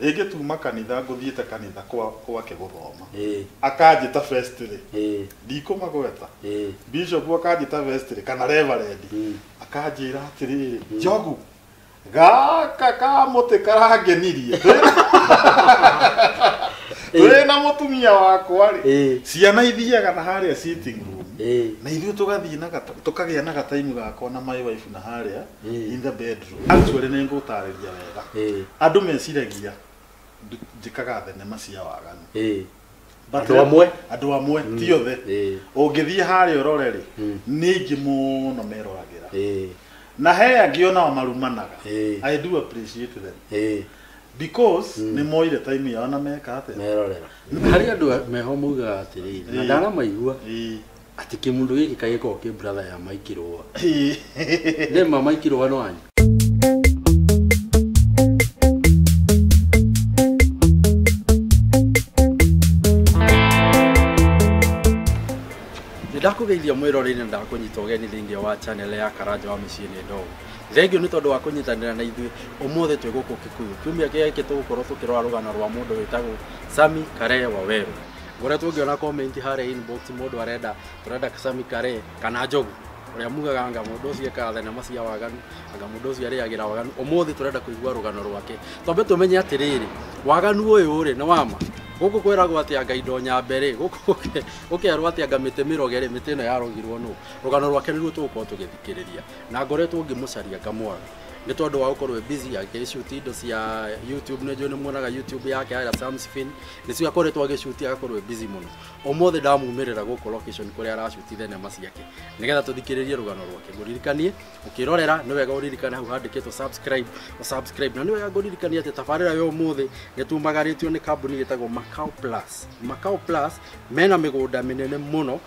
Rĩngĩ tuma kanitha ngũthiĩte kanitha kwa gwake gũthoma. Akanjĩta first-rĩ, ndikũmagweta. Bishop akanjĩta first-rĩ, kana reverendi, akanjĩra atĩrĩrĩ, Njogu, gaka kamũtĩ karangenirie. Twĩ na mũtumia wakwa-rĩ, ciana ithiaga na harĩa sitting room, na ithuĩ tũgathiĩ na tũkagĩa na gataimu gakwa na my wife na harĩa. Eh. in the bedroom actually nĩ ngũtarĩria wega Eh. andũ meciragia ndu- njĩkaga thenema cia waganu Eh. But Andũ amwe? andũ amwe ti othe Eh. ũngĩthiĩ harĩa ũrore rĩ Mm. nĩ aingĩ mũno meroragĩra Eh. na he angĩ onao marumanaga Eh. i do appreciate them Eh. because nĩ moire time yao na meka atĩa merorera harĩ andũ a- meho maugaga atĩrĩrĩ na Eh. ndanamaigua Eh. Ati kimundu giki kai gikoragwo ki brother ya Mai Kirua. Name ma Mai Kirua no anyu. Nĩndakũgeithia mwĩroreri na ndakũnyita ũgeni thĩinĩ wa channel ya Karanja wa mĩciĩ nĩ ndogo. Thengio nĩ tondũ wa kũnyitanĩra na ithuĩ ũmũthĩ twĩ gũkũ Kikuyu. Kiumia gĩkĩ tũgũkorwo tũkĩrora rũgano rwa mũndũ wĩtagwo Sammy Karehe Waweru. Ngoria tũngĩona comment harĩa inbox mũndũ arenda tũrenda Sami Kare kana Njogu ũrĩa mugaga anga mũndũ ũcio ekaga thenema cia waganu anga mũndũ ũcio arĩagĩra waganu ũmũthĩ tũrenda kũigua rũgano rwake twambe tũmenye atĩrĩrĩ waganu ũyũ rĩ nĩ wama gũkũ kwĩragwo atĩ anga indo nyambe rĩ gũkũ gũke- gũkerwo atĩ anga mĩtĩ mĩroge rĩ mĩtĩ ĩno yarogirwo nũ rũgano rwake nĩruo tũgũkorwo tũgĩthikĩrĩria na ngoretwo ngĩmũcaria ngamwaga nĩ tondũ wa gũkorwo e busy agĩshuti indo cia youtube nĩ njũĩ nĩ muonaga youtube yake ya Samsfin nĩcio akoretwo agĩcuti agakorwo e busy mũno ũmũthĩ ndamumĩrĩra gũkũ location kũrĩa aracuti thenema ciake nĩgetha tũthikĩrĩrie rũgano rwake ngũririkanie ũkĩrorera nĩ wega ũririkane hau handĩkĩtwo subscribe ũsubscribe na nĩ wega ngũririkanie atĩ tabarĩra ya ũmũthĩ nĩ tumagarĩtio nĩ kambuni ĩtagwo Macau Plus Macau Plus mena mĩgũnda mĩnene mũno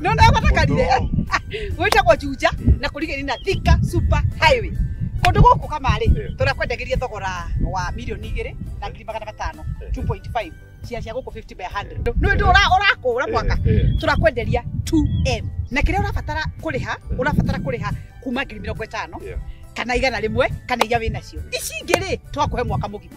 No na batakarire. Gwĩtagwo Juja na kũrigĩrĩria na Thika Super Highway. Kũndũ gũkũ kamarĩ Eh. tũrakwendagĩria thogora wa mirioni igĩrĩ na ngiri magana matano Eh. 2.5 cia cia gũkũ 50 by 100. Nĩ ũndũ ũra- ũrakũra mwaka tũrakwenderia 2M na kĩrĩa ũrabatara kũrĩha ũrabatara kũrĩha kuma ngiri mĩrongo ĩtano Yeah. kana igana rĩmwe kana iria wĩ nacio ici ingĩ rĩ twakũhe mwaka mũgima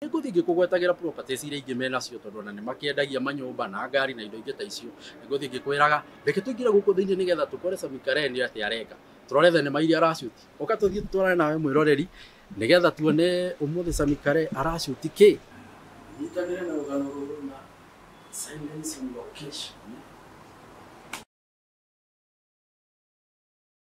Nĩ ngũthiĩ ngĩkũgwetagĩra properties iria ingĩ menacio tondũ ona nĩ makĩendagia manyũmba na ngari na indo ingĩ ta icio. Nĩ ngũthiĩ ngĩkwĩraga reke tũingĩre gũkũ thĩinĩ nĩgetha tũkore Samikareni atĩ areka. Tũrore thenema iria arashuti. Ũka tũthiĩ tũtwarane nawe mwĩroreri nĩgetha tuone ũmũthĩ Samikare arashuti kĩ. Nyitanĩre na rũgano rũrũ na Silence on Location.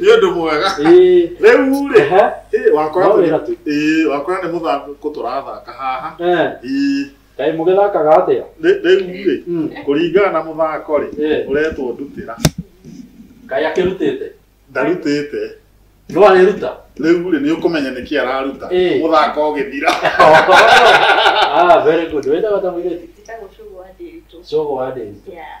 nĩ ũndũ mwega Ĩĩ, rĩu rĩ ehe, ĩ, wakora No wĩra tu. ĩ, wakora nĩ mũthako tũrathaka haha eh, Ĩ, kaĩ mũgĩthakaga atĩa rĩ- rĩu rĩ Mm, kũringana na mũthako rĩ eh, ũretwo ndutĩra kaĩ akĩrutĩte ndarutĩte no arĩruta rĩu rĩ nĩ ũkũmenya nĩkĩ araruta Ĩĩ. mũthako ũgĩthira ah, very good wĩtaga ta mũirĩtu Ndagũcugua ndĩritũ. cogo wa ndĩri Yeah.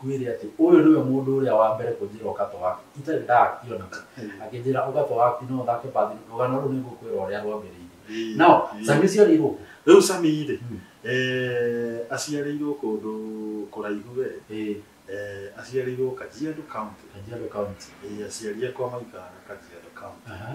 Ngwĩre atĩ, Ũyũ nĩwe mũndũ ũrĩa wa mbere kũnjĩra ũkatũ waku itarĩ ndakĩonana, akĩnjĩra, Ũkatũ waku no ũthake bathi. Rũgano rũrũ nĩngũkwĩra ũrĩa rwambĩrĩirie. Now, Sammy ũciarĩirwo kũ? Rĩu Sammy-rĩ, eh, aciarĩirwo kũndũ kũraihu we. Ĩĩ. Eh, aciarĩirwo Kajiado County. Kajiado County. Ĩĩ, aciari akwa maikaraga Kajiado County. Aha.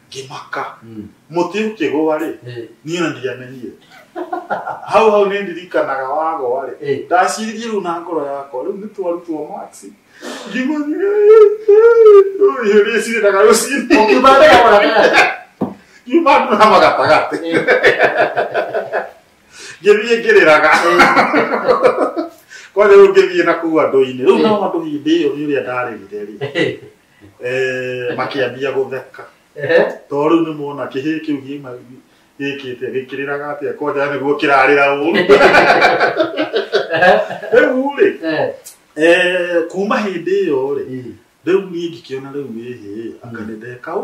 ngĩmaka mũtĩ ũkĩgũa rĩ Eh, niĩ na ndiamenyire hau hau nĩ ndirikanaga wagwa rĩ eh. ndaciririe rĩu na ngoro yakwa rĩu nĩ twarutwo max ngimanyĩrĩcirĩraga rũcinĩ Ũkiuma mbere wa gatagatĩ. ngiuma ndurama gatagatĩ ngĩthiĩ ngĩrĩraga kwanja rĩu ngĩthiĩ na kuu andũ-inĩ rĩu nao andũ hĩndĩ ĩyo nĩ ũrĩa ndarĩrire rĩ Eh, Eh, makĩambia gũtheka Ehe. tondũ rĩu nĩ mona kĩhĩ kĩu gĩma gĩkĩte gĩkĩrĩraga atĩa kwanja nĩguo kĩrarĩra ũru rĩu rĩ Eh. eh, kuma hĩndĩ ĩyo rĩ rĩu niĩ ngĩkĩona rĩu ĩhĩ anga nĩ ndeka ũ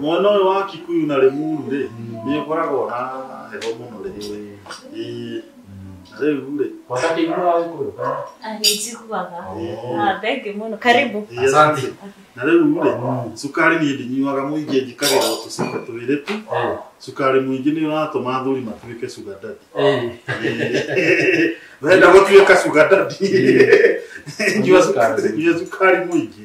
mwana ũyũ wa kikuyu na rĩmuru rĩ nĩ ũkoragwo na heho mũno rĩ Ĩĩ. Na rĩu rĩ Anijiguaga. Ah, thank you mũno. Karibu. Ĩĩ, asante. na rĩu rĩ cukari niĩ ndinyuaga mũingĩ njĩkagĩra o tũcuba twĩrĩ tu cukari mũingĩ nĩ ũratũma athuri matuĩke sugar daddy wenda gũtuĩka sugar daddy nyua cukari nyua cukari mũingĩ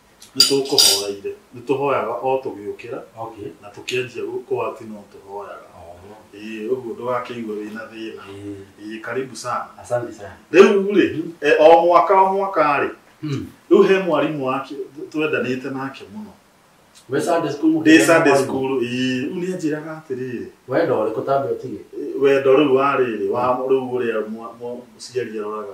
nĩ tũkũhoreire nĩ tũhoyaga o tũgĩũkĩra okay na tũkĩanjia gũ- kũwati no tũhoyaga oh ĩĩ ũguo ndũgakĩigue wĩna thĩna eh, ĩĩ karibu sana asante sana rĩu rĩ e, o mwaka o mwaka rĩ hmm. rĩu he mwarimũ wake twendanĩte nake mũno we Sunday school ndĩ mũkĩgĩa Sunday mwarimũ? school ĩĩ rĩu nĩ anjĩraga atĩrĩrĩ wenda ũrĩkũ tambe ũtige wendo rĩu wa rĩrĩ wa rĩu ũrĩa mwa- mwa- mũciari aroraga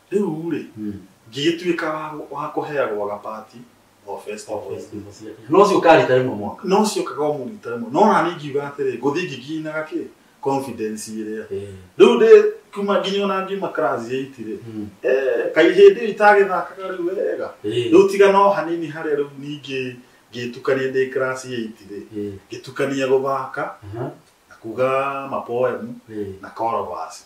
Rĩu-rĩ, ngĩgĩtuĩka wa- wa kũheagwo gabati o festival. No ũcio ũkarita rĩmwe mwaka. No ciokaga o mũrita rĩmwe. No naniĩ ngiuga atĩrĩ, ngũthiĩ ngĩginaga kĩ? Confidence ĩrĩa. Rĩu ndĩ kuma nginya ona ngiuma class eight rĩ, eh, kaĩ hĩndĩ ĩyo itagĩthakaga rĩu wega. Rĩu tiga no hanini harĩa rĩu ningĩ ngĩtukania ndĩ class eight rĩ, ngĩtukania gũthaka na kuga ma poem na chorus.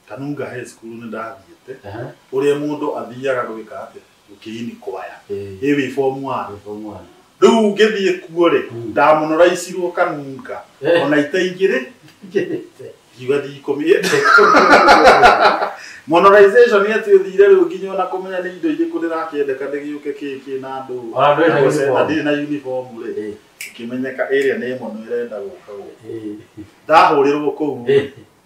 Kanunga he cukuru nĩ ndathiĩte, Aha. ũrĩa mũndũ athiaga gwĩka atĩ gũkĩini kwaya Eh. ĩ wĩ form one. Form one. Rĩu ngĩthiĩ kuo rĩ Mm. ndamonoraicirwo kanunga Eh. ona ite igĩrĩ ngiuga ndikũmĩenda monorization ĩtĩ ũthire rĩu nginya ona kũmenya nĩ indo irĩkũ ndĩrakĩendeka ndĩgĩũke kĩkĩ na andũ Ona ndũrĩ na na gũcenjia, uniform. ndirĩ na uniform rĩ Eh. ĩkĩmenyeka ĩrĩa nĩ ĩmwe no ĩrenda gũka gũkũ Eh. ndahũrĩrwo kũu Eh.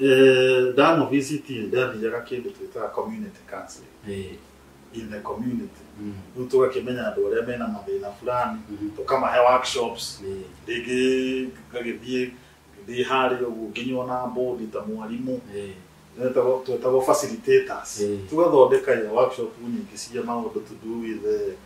Uh, that no visit in there the Yara came to a community counseling Eh, in the community. mm, Rĩu tũgakĩmenya andũ arĩa mena mathĩna fulani Mhm. tũkamahe workshops eh, rĩngĩ ngagĩthiĩ ngĩthiĩ harĩ ũguo nginywo na mbũndi ta mwarimũ eh, Nĩtagwo- twĩtagwo facilitators Eh. tũgathondeka ya workshop nyingĩ cia maũndũ to do with eh,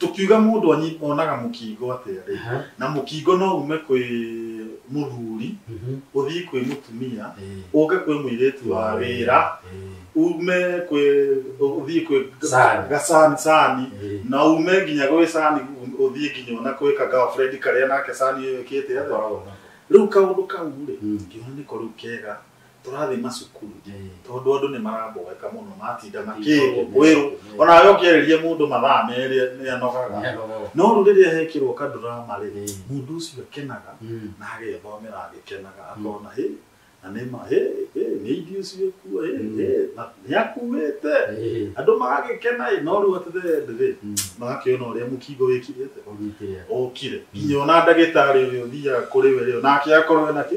tũkiuga mũndũ anyi- onaga mũkingo atĩa rĩ Aha. na mũkingo no ume kwĩ mũthuri Mhm. ũthiĩ kwĩ mũtumia Eh, ũke kwĩ mũirĩtu wa wĩra eh, ume kwĩ ũthiĩ kwĩ Sani. gasani sani eh. na ume nginya gwĩ sani ũthiĩ nginya ona kwĩ ka girlfriend karĩa nake sani ĩyo ĩkĩte atĩa. Koragwo na- rĩu kaũndũ kau rĩ Mm. ngĩona nĩko rĩu kega tũrathiĩ macukuru tondũ andũ nĩ maramboeka mũno matinda makĩrwo kwĩrwo onawe ũkĩarĩria mũndũ mathaa merĩ nĩ anogaga no rĩu rĩrĩa hekĩrwo kandurama rĩ mũndũ ũcio akenaga na agethomera agĩkenaga akona hĩ na nĩ ma hĩ hĩ nĩ ithuĩ ũcio kuo hĩ hĩ na nĩ akuĩte andũ magagĩkena ĩ no rĩu at the end rĩ magakĩona ũrĩa mũkingo wĩkirĩte ũkire nginya ona ndagĩtarĩ ũrĩa ũthiaga kũrĩ we rĩ nake akorwo ena kĩ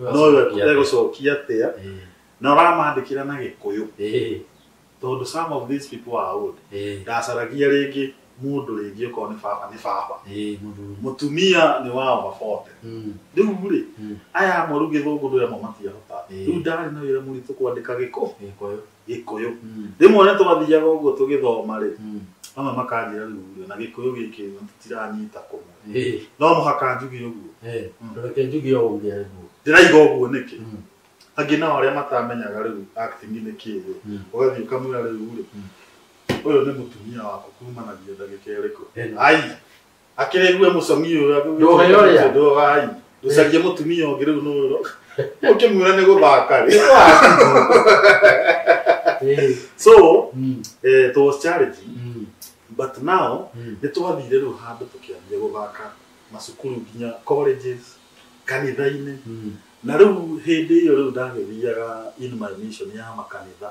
nowe kuga gucokia atia na uramandikira na gikuyu tondu some of these people are old ndacaragia ringi mundu ringi ukorwo ni baba ni baba mutumia ni wa over 40 riu ri aya amwe riu githungu ndwira mo matiahota riu ndari na wira muritu kwandika gikuyu gĩkũyũ rĩmwe nĩ twathiaga ũguo tũgĩthoma rĩ amwe makanjĩra rĩu rĩ na gĩkũyũ gĩkĩ rĩ, tũtiranyita kũmwe Eh, no mũhaka njuge ũguo eh, ndũreke njuge o ũguo ũguo. ndĩraiga ũguo nĩkĩ Mm. angĩ nao arĩa matamenyaga rĩu acting nĩ kĩĩ rĩ Mm. ũgathiĩ ũkamwĩra rĩu rĩ ũyũ nĩ mũtumia waku kumanagia ndagĩka ĩrĩkũ Ĩno. ai akĩrĩgue mũcamio ũrĩa Ndũhe ũrĩa. ndũhe wai ndũcarie mũtumia ũngĩ rĩu nũrũ ũkĩmwĩra nĩ gũthaka rĩ Eh, so mm, eh, it was charity mm, but now mm. nĩ twathire rĩu handũ tũkĩambia gũthaka macukuru nginya colleges kanitha-inĩ Mm, na rĩu hĩndĩ ĩyo rĩu ndagĩthiaga in my mission ya makanitha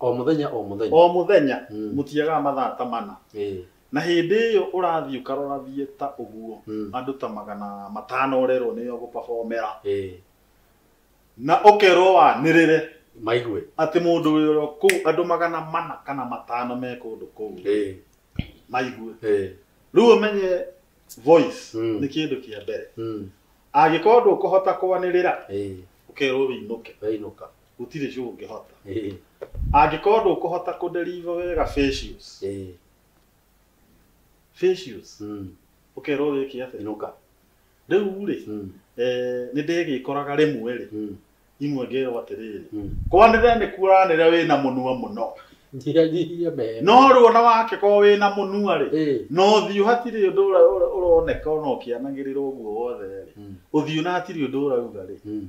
O mũthenya o mũthenya. O mũthenya, Mm. mũtiagaga mathaa ta mana. Ĩ. Na hĩndĩ ĩyo ũrathiĩ ũkarorathiĩ ta ũguo, Mm. andũ ta magana matano ũrerwo nĩo ũgũpabomera. Ĩ. Na ũkerwo wanĩrĩre Maigue. atĩ mũndũ wĩ oro kũu, andũ magana mana kana matano me kũndũ kũu Ĩ. maigue. Ĩ. Rĩu ũmenye voice Mm. nĩ kĩndũ kĩa mbere. Mm. Angĩkorwo ndũkũhota kwanĩrĩra, Ĩ. ũkerwo wĩinũke. Weinũka. gũtirĩ cũ ũngĩhota Eh, angĩkorwo ndũkũhota kũnderiva wega facials eh, facials mm, ũkerwo wĩke atĩa inuka. rĩu rĩ Mm, eh, nĩ ndĩgĩkoraga rĩmwe rĩ mm, imwe ngerwo atĩrĩrĩ mm. kwanĩre nĩ kuranĩre wĩna mũnua mũno Njia njia mehema. no rĩu ona wake korwo wĩna mũnua rĩ Eh, no ũthiũ hatirĩ ũndũ ũra- ũra- ũroneka ona ũkĩanagĩrĩra ũguo wothe rĩ mm, ũthiũ na hatirĩ ũndũ ũrauga rĩ mm,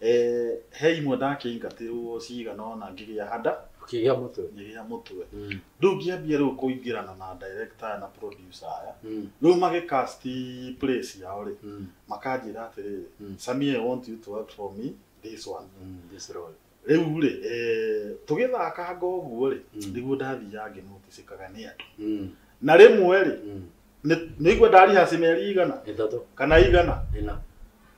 Eh, he imwe ndakĩingatĩrwo cigana ona ngĩgĩa hada Ũkĩgĩa mũtwe. ngĩgĩa mũtwe Mm. rĩu ngĩambia rĩu kũingĩrana na director aya na producer aya Mm. rĩu magĩcast play ciao rĩ Mm. makanjĩra atĩrĩrĩ Mm. samia i want you to act for me this one Mm. This role. rĩu rĩ eh, tũgĩthakanga ũguo rĩ Mm. nĩguo ndathiaga ngĩnoticĩkaga nĩ andũ Mm. na rĩmwe rĩ Mm. nĩ- nĩigua ndarihaci mĩeri igana Ĩtatũ. kana igana Ĩna.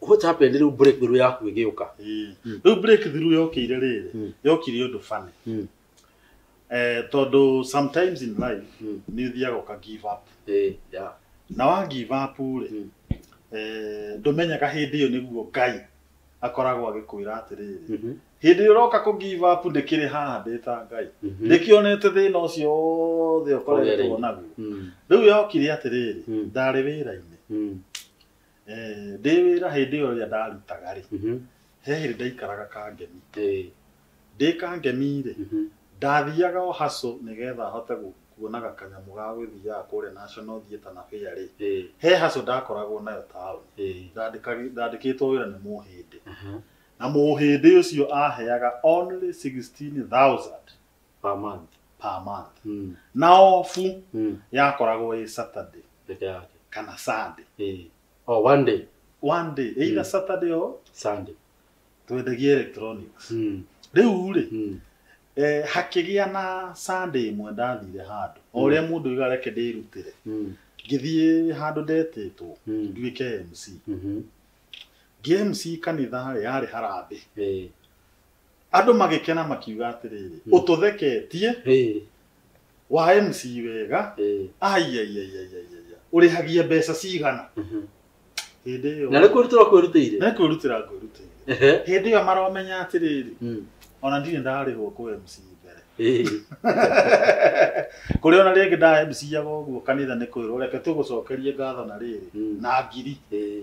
what happened rĩu break through yaku ĩgĩũka rĩu break through yokĩire rĩrĩ Mm. yokire ũndũ funny Mm. eh, tondũ sometimes in life Mm. nĩ ũthiaga ũka give up Eh, yeah. na wa give up rĩ Mm. eh, ndũmenyaga hĩndĩ ĩyo nĩguo ngai akoragwo agĩkwĩra atĩrĩrĩ Mhm. hĩndĩ ĩyo ũroka kũ give up ndĩkĩrĩ haha ndĩ ta ngai Mhm. ndĩkĩonete thĩna ũcio wothe ũkoretwo Ũgereire. naguo Mm. rĩu yokire atĩrĩrĩ Mm. ndarĩ wĩra-inĩ Mm. Eh, ndĩ wĩra hĩndĩ ĩyo ĩrĩa ndarutaga rĩ Mhm. he hĩndĩ ndaikaraga kangemi Eh, ndĩ kangemi rĩ mhm. ndathiaga o haco nĩgetha hote gũ- kuonaga kanyamũ ga gũthiaga kũrĩa national theatre na fair rĩ Eh, he haco ndakoragwo nayo taũni eh. Ndandĩkagi- ndandĩkĩtwo wĩra nĩ mũhĩndĩ Aha. na mũhĩndĩ ũcio aheaga only 16000 per month per month mm. na ofu mm. yakoragwo ĩ saturday peke yake kana sunday eh. oh, one day one day either mm. saturday or sunday twendagia electronics mm. rĩu rĩ mm. eh, hakĩgĩa na sunday ĩmwe ndathire handũ o mm. ũrĩa mũndũ iga reke ndĩrutĩre mm. ngĩthiĩ handũ ndetĩtwo mm. nduĩke mc mm -hmm. ngĩ mc kanitha rĩ yarĩ harambĩ eh. andũ magĩkena makiuga atĩrĩrĩ Mm. ũtũtheketie Ĩĩ, wa MC wega ĩĩ, aiaiaiaiaia ũrĩhagia mbeca cigana mhm. hĩndĩ ĩyo na nĩ kwĩrutĩra kwĩrutĩire nĩ kwĩrutĩra ngwĩrutĩire Ehe, hĩndĩ ĩyo maromenya atĩrĩrĩ mm, ona ndirĩ ndarĩhwo kũ MC mbere ĩĩ, kũrĩ ona rĩngĩ nda MC aga ũguo kanitha nĩ kwĩrwo reke tũgũcokerie ngatho na rĩrĩ mm, na ngiri ĩĩ,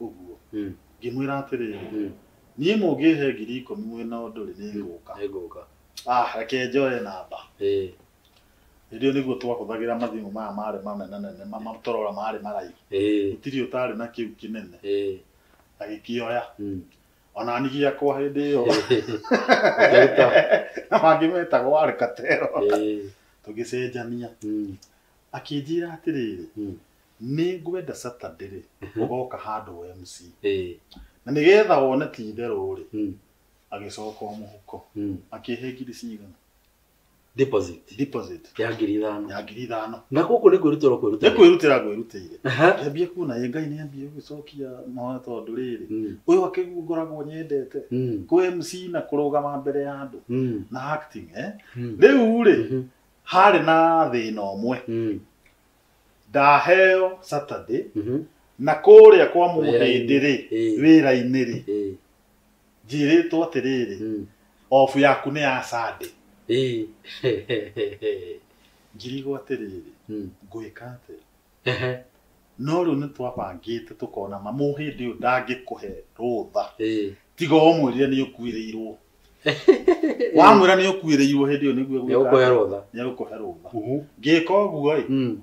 ũguo Mm. ngĩmwĩra atĩrĩrĩ Mm. niĩ mũngĩhe ngiri ikũmi mwĩna ũndũ rĩ nĩngũka Nĩngũka. ah reke njoe namba Ĩĩ. hĩndĩ ĩyo nĩguo twahũthagĩra mathimũ maya marĩ mamenanene mamatũrora marĩ maraihu Ĩĩ. gũtirĩ ũtarĩ na kĩu kĩnene Ĩĩ. agĩkĩoya Mm. ona ni gĩakwa hĩndĩ ĩyo Ũkĩruta. na mangĩ metagwo warĩ katero Ĩĩ. tũgĩcenjania Mm. akĩnjĩra atĩrĩrĩ Mm. Nĩ ngwenda Saturday rĩ, Mhm. ũgoka handũ wa MC. Ĩĩ. Na nĩ getha wone ti itherũ rĩ, Mm. agĩcoka o mũhuko. Mm. Akĩhe ngiri cigana? Deposit. Deposit Ya ngiri ithano. ya ngiri ithano. Na gũkũ nĩ kwĩrutĩra Nĩ kwĩrutĩra. kwĩrutĩra ngwĩrutĩire. Aha. Ngĩambia kuona ĩ Ngai nĩ ambia gũgĩcokia mahoya tondũ rĩrĩ, Mm. ũyũ akĩguo ngoragwo nyendete. Mm. Kũ MC na kũrũgama mbere ya andũ Mm. na acting eh. Mm. Rĩu rĩ, Mhm. harĩ na thĩna ũmwe. Mm. ndaheo saturday Mhm. na kũrĩa kwa mũhĩndĩ rĩ Ĩĩ. wĩra-inĩ rĩ Ĩĩ. njĩrĩtwo atĩrĩrĩ Mm. obu yaku nĩ ya sande Ĩĩ. ngirigwo atĩrĩrĩ Mm. ngwĩka atĩ Ehe. no rĩu nĩ twabangĩte tũkona ma mũhĩndĩ ũyũ ndangĩkũhe rũtha Ĩĩ. tiga ũmwĩrire nĩ ũkuĩrĩirwo wamwĩra nĩ ũkuĩrĩirwo hĩndĩ ĩyo nĩguo nĩ ũkũhe rũtha nĩ ũkũhe rũtha ngĩka ũguo ĩ Mm,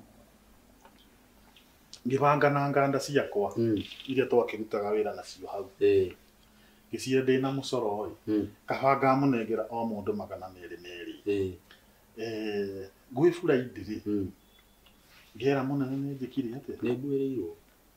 ngĩbanga na nganda ciakwa mm, iria twakĩrutaga wĩra nacio hau eh, ngĩcihe ndĩ na mũcoro ĩ mm, kabanga mũnengera o mũndũ magana merĩ merĩ eh, Eh, gwĩ buraidirĩ mm. ngera mũnene nĩ njĩkire atĩa nĩ nguĩrĩirwo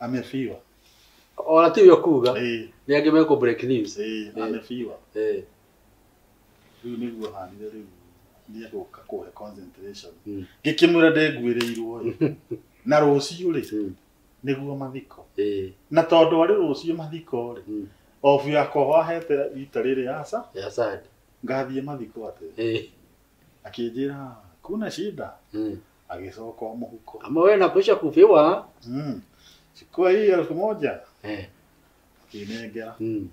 amefiwa ona tiu yokuga Eh, ni angi meko break news eh, Eh. amefiwa eh riu niguo hanire riu niegũka kũhe concentration Mm. ngĩkĩmwĩra ndenguĩrĩirwo ĩ na rũciũ rĩ Mm. nĩguo mathiko eh na tondũ arĩ rũciũ mathiko rĩ Mm. obu yakwa wahete rita rĩrĩ aca ya sad ngathiĩ mathiko atĩ eh akĩnjĩra kuna shida mm agĩcoka o mũhuko Kama wewe nakwisha kupewa. mm. chukua hii elfu moja Eh. akĩnengera Mm.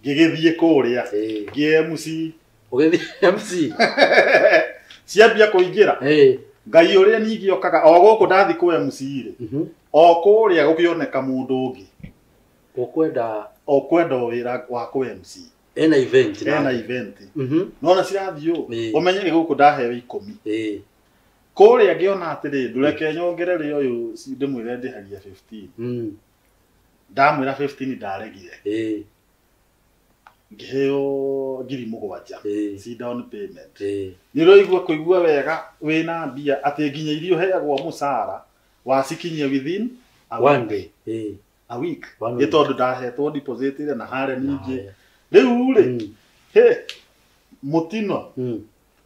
ngĩgĩthiĩ kũrĩa Eh. ngĩmc Ugethi MC. ciambia kũingĩra Eh. ngai ũrĩa ningĩ okaga o gũkũ ndathi kũ mc rĩ Mhm. o kũrĩa gũkĩoneka mũndũ ũngĩ Ukwenda o kwenda o wĩra wa kũ mc ena event. ena event Mhm. nona cirathiĩ ũũ Eh. ũmenye nĩ gũkũ ndahewe ikũmi Eh. kũrĩa ngĩona atĩrĩ ndũreke nyongere rĩ ũyũ ci- ndĩmwĩre ndĩhagia 15 Mm. ndamwĩra 15 ndaregire Eh. ngĩheo ngiri mũgwanja Eh. si down payment Eh. nä å raigua kå igua wega wä na mbia atä nginya iria å heagwo må cara wacikinyia within a One week. day. Eh. A week. One nä week. tondå ndahetwo deposit ä na harä ningä Haya. rä u rä Mm. hä må tino Mm.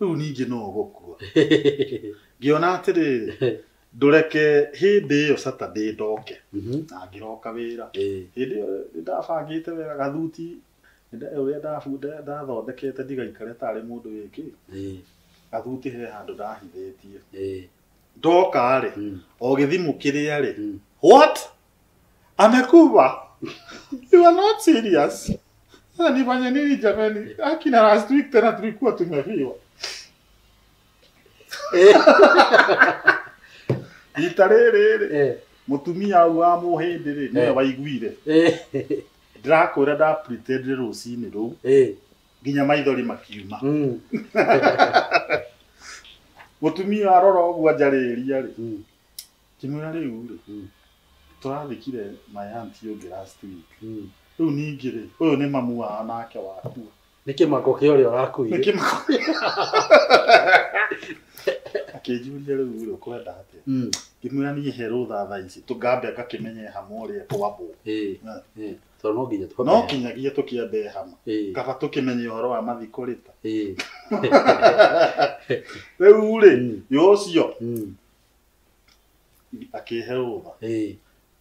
rĩu ningĩ no ũgũkua ngĩona atĩrĩrĩ ndũreke hĩndĩ ĩyo saturday ndoke Mhm. na ngĩroka wĩra Eh, hĩndĩ ĩyo nĩ ndabangĩte wega gathuti nĩ nda- ũrĩa ndabu- nda- ndathondekete ndigaikare tarĩ mũndũ wĩkĩ eh, gathuti he handũ ndahithĩtie eh, ndoka rĩ Mm. o gĩthimũ kĩrĩa rĩ Mm. what amekuva you are not serious Sasa nifanye nini jamani akina last week tena tulikuwa tumefiwa Eh, rita rĩrĩ rĩ eh, mũtumia ũyũ wa mũhĩndĩ rĩ nĩwe Eh. waiguire eh, ndĩrakwĩra ndapretendire rũcinĩ rũu eh, nginya maithori makiuma Mm. mutumia arora uguo anjarĩria rĩ Mm. kimwira riu rĩ Mm. tũrathikire mayanti ũngĩ last week Mm. rĩu ningĩ rĩ ũyũ nĩ mamu wao nake wakua nĩ kĩmako kĩa ũrĩa ũrakuire nĩkĩmakoria akĩnjuria rĩu rĩ ũkwenda atĩa Mm. ngĩmwĩra niĩ he rũtha thaa ici tũngambe ngakĩmenye hamwe ũrĩa kwambũ Ĩĩ, Na. ĩĩ. tondũ no nginya tũkome no kinyagia tũkĩambe hama Ĩĩ, kaba tũkĩmenye ũhoro wa mathiko rĩta ĩĩ. rĩu rĩ Mm, yũcio mm, akĩhe rũtha ĩĩ.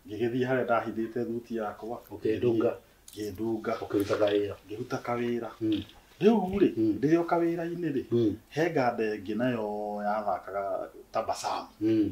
ngĩgĩthiĩ harĩa ndahithĩte thuti yakwa ũkĩndunga ngĩndunga ũkĩrutaga wĩra ngĩruta kawĩra Mm, rĩu rĩ Mm. ndĩrĩ o kawĩra-inĩ rĩ mm, he nganda ĩngĩ nayo yathakaga tabasamu mm,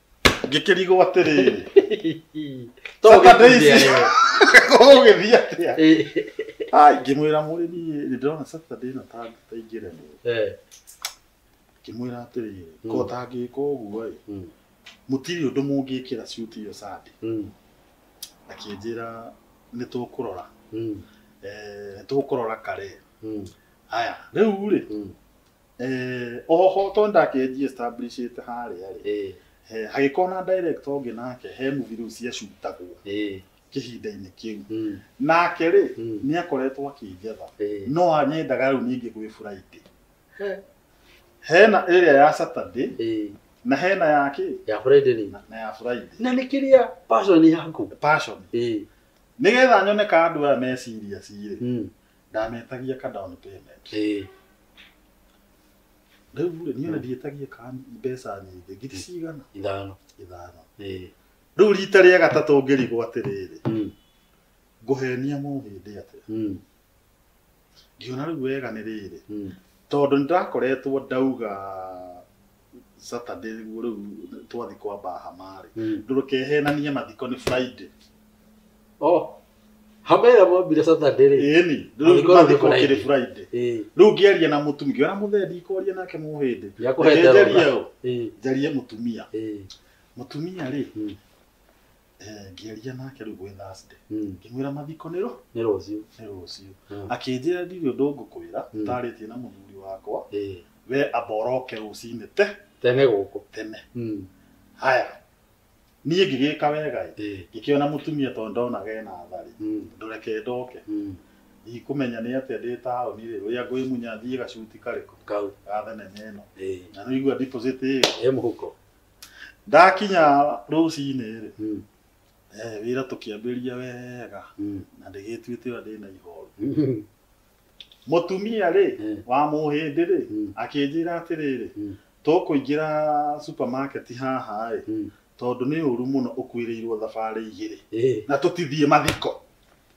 ngĩkĩrigwo atĩrĩ To Sasa ũgĩtinde Daisy. arĩwe. ũgĩthiĩ atĩa Eh, Ai, ngĩmwĩra mũrĩmi nĩ ndĩrona saturday ĩno ta ta ingĩremwo eh, ngĩmwĩra atĩrĩ Mm. ko tangĩka ũguo ĩ mm, mũtirĩ ũndũ mũngĩkĩra ciuti iyo sande mm, akĩnjĩra nĩ tũkũrora mm, eh, nĩ tũkũrora kare mm, aya rĩu rĩ mm. Eh, oho to ndakenji establishĩte harĩa rĩ Eh, eh, hagĩkorwo na director ũngĩ nake he movie rĩu ciacutagwo eh, kĩhinda-inĩ kĩu mm, nake rĩ mm, nĩ akoretwo akĩnjetha eh. no anyendaga rĩu ningĩ gwĩ friday He, hena ĩrĩa ya saturday eh, na hena ya kĩ ya Friday ni. na ya friday Na nĩ kĩrĩa passion yaku. passion Eh, nĩgetha nyone ka andũ aya meciria cirĩ mm, ndanetagia ka down payment Eh, rĩu rĩ niĩ ona ndiĩtagia ka mbeca nyingĩ ngiri cigana ithano ithano Eh, rĩu rita rĩa gatatũ ngĩrigwo atĩrĩrĩ mm, ngũhenia mũhĩndĩ atĩa mm, ngiona rĩu wega nĩ rĩrĩ mm, tondũ nĩ ndakoretwo ndauga Saturday nĩguo rĩu twathi kwa Bahama rĩ Mm. ndũkehenanie mathiko nĩ Friday Oh. Hama ĩrĩa mwambire Saturday rĩ. ĩni Mathiko rĩu nĩ mathiko kĩrĩ Friday. Friday Ĩĩ. rĩu ngĩaria na mũtumia ngĩona mũthee ndikwaria nake mũhĩndĩ Nĩakũhete Reke njarie rũtha. ũ, Ĩĩ. njarie mũtumia Ĩĩ. mũtumia rĩ Mm. Eh, ngĩaria nake rĩu gwĩ Thursday Mm. ngĩmwĩra mathiko nĩ rũ nĩ rũciũ nĩ rũciũ Mm. akĩnjĩra ndirĩ ũndũ ngũkwĩra Mm. ndarĩtie na mũthuri wakwa Eh, we amba ũroke rũcinĩ te tene gũkũ tene Mm. haya niĩ ngĩgĩka wega ĩ Eh, ngĩkĩona mũtumia tondũ ndona ge na tharĩ mm. ndũreke ndoke Mm. ikũmenya nĩ atĩa ndĩ taũni rĩ ũrĩa ngwĩmunya thiĩ gacuti karĩkũ kau ga thenema ĩno Eh, na nĩigua deposit ĩyo ĩ mũhuko ndakinya rũcinĩ-rĩ Mm. eh, wĩra tũkĩambĩria wega Mm. na ndĩgĩtuĩte ũrĩa ndĩna ihoru Mm. mũtumia-rĩ Eh. wa mũhĩndĩ-rĩ Mm. akĩnjĩra atĩrĩrĩ Mm. tũkũingĩra supermarket haha-ĩ Mm. tondũ nĩ ũru mũno ũkuĩrĩirwo thabarĩ igĩrĩ Eh. na tũtithiĩ mathiko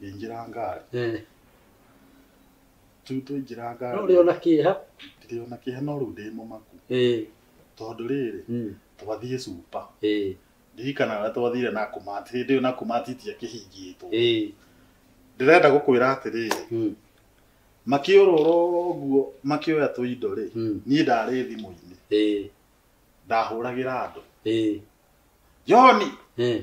ngĩingĩra ngari Eh, rĩu twaingĩra no ngari ũrĩ ona kĩeha ndirĩ ona kĩhe no rĩu ndĩ mũmaku Eh, tondũ rĩrĩ mm, twathiĩ cupa eh, ndirikana ũrĩa twathire na kumati hĩndĩ ĩyo na kumati tiakĩhingĩtwo eh, ndĩrenda gũkwĩra atĩrĩrĩ mm, makĩũrũra ũguo makĩoya tũindo rĩ mm, niĩ ndarĩ thimũ-inĩ eh, ndahũragĩra andũ eh, johni eh,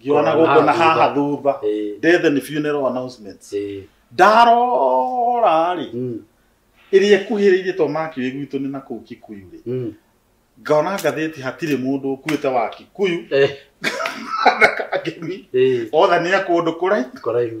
ngĩona gũkũ na haha thutha Eh, death and funeral announcements eh, ndarora rĩ mm, ĩrĩa ĩkuhĩrĩirie to makiuĩ gwitũ nĩ na kũu kikuyu rĩ mm, ngona ngathĩti hatirĩ mũndũ ũkuĩte wa kikuyu eh, na kangemi eh, othe nĩ a kũndũ kũraihu kũraihu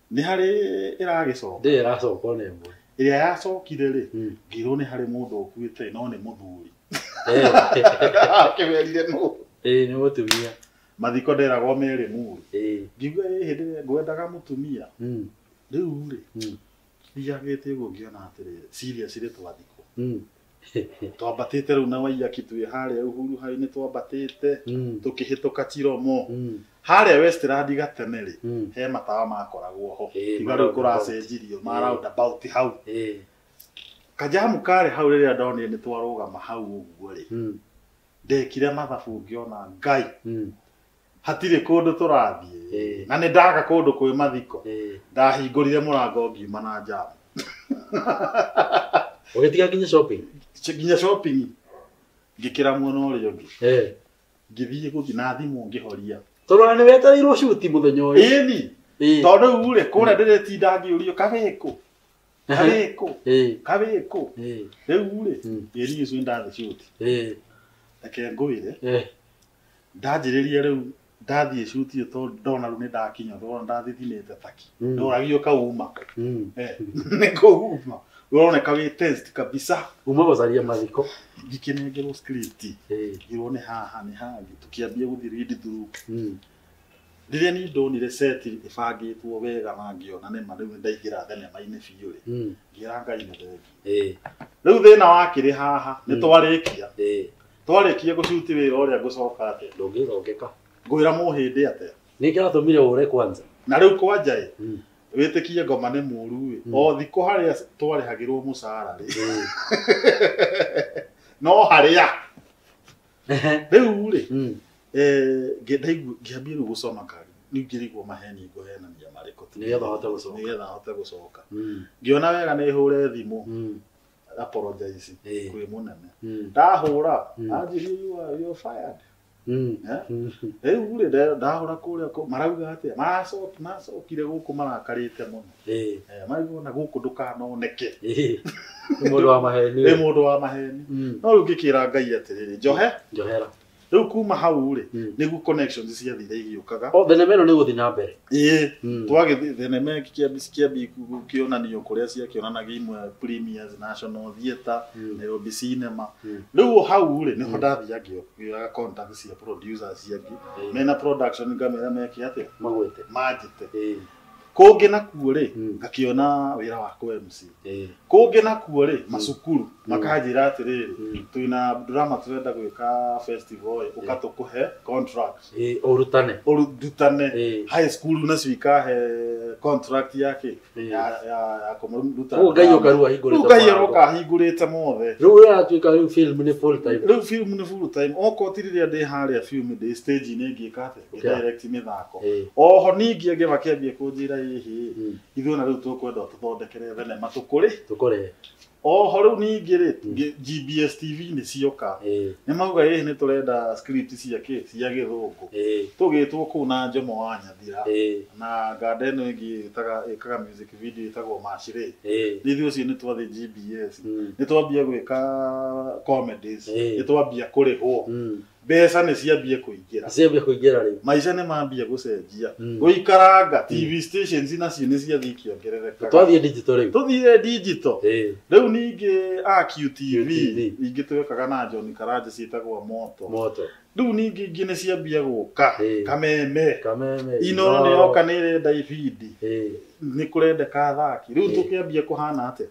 nĩ harĩ ĩragĩcoka ndĩrĩ ĩracoka ona ĩmwe ĩrĩa yacokire rĩ Mm. ngĩrwo nĩ harĩ mũndũ ũkuĩte no nĩ mũthuri Eh, akĩmerire nũ eh, nĩ mũtumia mathiko nderagwo merĩ muri Eh, ngiuga ĩ hĩndĩ ĩrĩa ngwendaga mũtumia mm, rĩu rĩ mm, thiagĩte ũguo ngĩona atĩrĩ serious rĩ twathikwo mm. twambatĩte rĩu na waiyaki twĩ harĩa uhuru hainĩ twambatĩte Mm. tũkĩhĩtũka tiromo Mm. harĩa westland gatene rĩ Mm. he matawa makoragwo ho Eh, tiga rĩu roundabout. kũracenjirio ma Eh. roundabout hau Eh. kajamu karĩ hau rĩrĩa ndonire nĩ twarũgama hau ũguo rĩ Mm. ndekire mathabu ngĩona ngai Mm. hatirĩ kũndũ tũrathiĩ Eh. na nĩ ndaga kũndũ kwĩ mathiko Eh, ndahingũrire mũrango ngiuma na njamu ũgĩtiga nginya shopping Ch- nginya shopping ngĩkĩra mwena ũrĩa ũngĩ Eh, ngĩthiĩ gũthiĩ na thimũ ngĩhoria tondũ ona nĩ wetereirwo cuti mũthenya ũyũ ĩni Eh, tondũ rĩu rĩ kũrĩa ndĩrĩtinda ngĩũrio kagĩkũ kagĩkũ eh, kagĩkũ eh, rĩu rĩ Mm. ĩri ũcio nĩ ndathĩ cuti eh, reke ngwĩre eh, ndanjĩrĩria rĩu ndathiĩ cuti ĩyo tondũ ndona rĩu nĩ ndakinya thogora ndathiĩ thinĩte taki Mm. ndoragio kauma Mm. Eh, nĩ kũhuma ũroneka wĩ test kabisa Uma gũcaria mathiko. ngĩkĩnengerwo script Eh. ngirwo nĩ haha nĩ haha tũkĩambia gũthiĩ read through Mm. rĩrĩa niĩ ndonire set ĩbangĩtwo wega na ngĩona nĩ ma rĩu nĩ ndaingĩra thenema-inĩ biũ rĩ Mm. ngĩra ngai nĩ thengi Eh. rĩu thĩna wakĩrĩ haha nĩ Mm. twarĩkia Eh. Twarĩkia gũcuti wĩra ũrĩa ngũcoka atĩa? Ndũngĩthongeka. Ngwĩra mũhĩndĩ atĩa? Nĩ kĩratũmire ũre kwanza. Na rĩu kwanja ĩ, Mm. wĩtĩkie ngoma nĩ mũru ĩ, Mm. o thikũ harĩa twarĩhagĩrwo mũcara rĩ, Mm. no harĩa. Rĩu rĩ, Mm. eh, ngĩ- ndaigua- ngĩambia rĩu gũcoma kari, rĩu ngĩrigwo maheni ngũhenania marĩkũ. Nĩgetha ũhote gũcoka. Nĩgetha hote gũcoka. Mm. Ngĩona wega nĩ hũre thimũ, Mm. apologize Eh. kwĩ mũnene Mm. ndahũra Mm. anjĩrie you are you are fired Mm. Eh? Mm. rĩu rĩ nda- ndahũra kũrĩa kũ- marauga atĩa Maracoki- macokire gũkũ marakarĩte mũno Eh. Eh, maigua na gũkũ ndũkanoneke Eh. Nĩ mũndũ wa maheni. wĩ mũndũ wa maheni Mm. no rĩu ngĩkĩra ngai atĩrĩrĩ njohe Njohera. rĩu kuma hau rĩ Mm. nĩguo connections ciathire igĩũkaga o thenema ĩno nĩ gũthiĩ na mbere ĩĩ Mm. twagĩthiĩ thenema ĩngĩ kĩambi kĩambi kĩonanio kũrĩa ciakĩonanagia imwe premiers national theatre Mm. nairobi cinema Mm. rĩu o hau rĩ nĩho ndathiĩ ngĩoyaga contact cia producers ciangĩ Ĩĩ. mena production ngamera meke atĩa magwĩte manjĩte Ĩĩ. kũngĩ nakuo rĩ Mm. ngakĩona wĩra wa kũ MC Eh, kũngĩ nakuo rĩ macukuru makanjĩra atĩrĩrĩ Mm. twĩna drama tũrenda gwĩka festival ĩ, ũka tũkũhe contract eh, ũrutane ũrutane Eh. high school nacio ikahe contract yake Eh. ya ya ya kũmaruta Ũguo Ngai ũka rĩu ahingũrĩte Rĩu Ngai maũndũ. aroka ahingũrĩte mothe rĩu ũrĩa aratuĩka rĩu film nĩ full time rĩu film nĩ full time okorwo ti rĩrĩa ndĩ harĩa film ndĩ stage inĩ ngĩka atĩ Gũkĩra. direct mĩthako Ĩĩ. oho ningĩ ngĩma kĩambie kũnjĩra ĩhĩ Mm. ithuĩ na rĩu tũkwenda ũtũthondekere thenema tũkũrĩ Tũkore. oho rĩu ningĩ rĩ Mm. ngi- GBS TV nĩ cioka Ĩĩ. nĩ mauga ĩhĩ nĩ tũrenda script cia kĩ cia gĩthũngũ Ĩĩ. tũgĩtwo kũu na njomo wa nyathira Ĩĩ. na nganda ĩno ĩngĩ ĩtaga ĩkaga music video ĩtagwo macirĩ Ĩĩ. ithuĩ ũcio nĩ twathiĩ GBS Mm. nĩ twambia gwĩka comedies Ĩĩ. nĩ twambia kũrĩhwo Mm. mbeca nĩ ciambie kũingĩra ciambia kũingĩra rĩu maica nĩ mambie gũcenjia Mm. gũikaranga tv stations nacio nĩ ciathiĩ ikĩongerereka twathiĩ digital rĩu tũthiĩ digital Eh, rĩu ningĩ AQTV QTV. ingĩ twekaga na John Karanja ciĩtagwo moto moto rĩu ningĩ ingĩ nĩ ciambia gũka Eh. kameme kameme ino nĩ yoka nĩ ĩrenda ibindi Eh, nĩ kũrendeka athaki rĩu Eh. tũkĩambia kũhana atĩa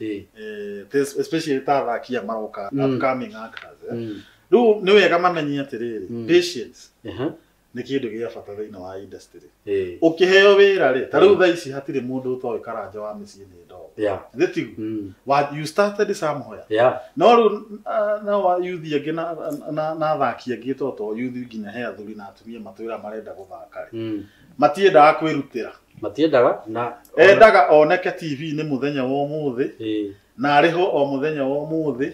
Eh. eh, this- especially ta athaki a maroka Mm. upcoming actors eh. Mm. rĩu nĩ wega mamenye atĩrĩrĩ Mm. patience Aha. nĩ kĩndũ gĩa bata thĩinĩ wa industry Eh. ũkĩheo wĩra rĩ ta rĩu Mm. thaa ici hatirĩ mũndũ ũtoĩ karanja wa mĩciĩ nĩ ndogo Yeah. nĩ tigu Mm. Wa- you started somewhere Yeah. no rĩu ah, no wa- youth angĩ na- na- na athaki angĩ toto youth nginya he athuri na atumia matwĩra marenda gũthaka rĩ Mm. matiendaga kwĩrutĩra matiendaga na endaga oneke tv-inĩ mũthenya wa ũmũthĩ Ĩĩ. na arĩhwo o mũthenya wa ũmũthĩ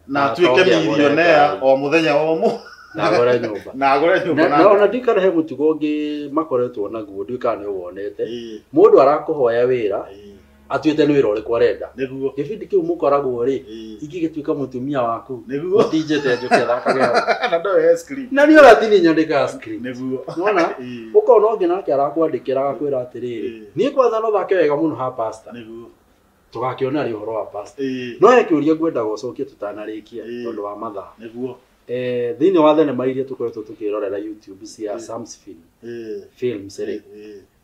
na Na atuĩke atonge agũre milionea ngari. o mũthenya wa ũmũthĩ na agore nyũmba na agũre nyũmba na na na ona ngari. ndikana he mũtugo ũngĩ makoretwo naguo ndikana nĩ wonete Ĩĩ, mũndũ arakũhoya wĩra ĩĩ, atuĩte nĩ wĩra ũrĩkũ arenda nĩguo gĩbindi kĩu mũkoragwo rĩ Ĩĩ. ingĩgĩtuĩka mũtumia waku nĩguo ũtinjĩte njũke thakaga na ndoe ya screen na niĩ ũratinĩ nyandĩkaga script nĩguo nona Ĩĩ. ũkona ũngĩ nake arakwandĩkĩra agakwĩra atĩrĩrĩ Ĩĩ. niĩ kwanza no thake wega mũno ha pasta nĩguo tũgakĩona rĩ ũhoro wa pasta Ĩĩ. no he kĩũria ngwendaga ũcokie tũtanarĩkia Ĩĩ. tondũ wa mathaa nĩguo Eh, thĩinĩ wa thenema iria tũkoretwo tũkĩrorera youtube cia Ĩĩ. samsfin Ĩĩ. films rĩ Ĩĩ.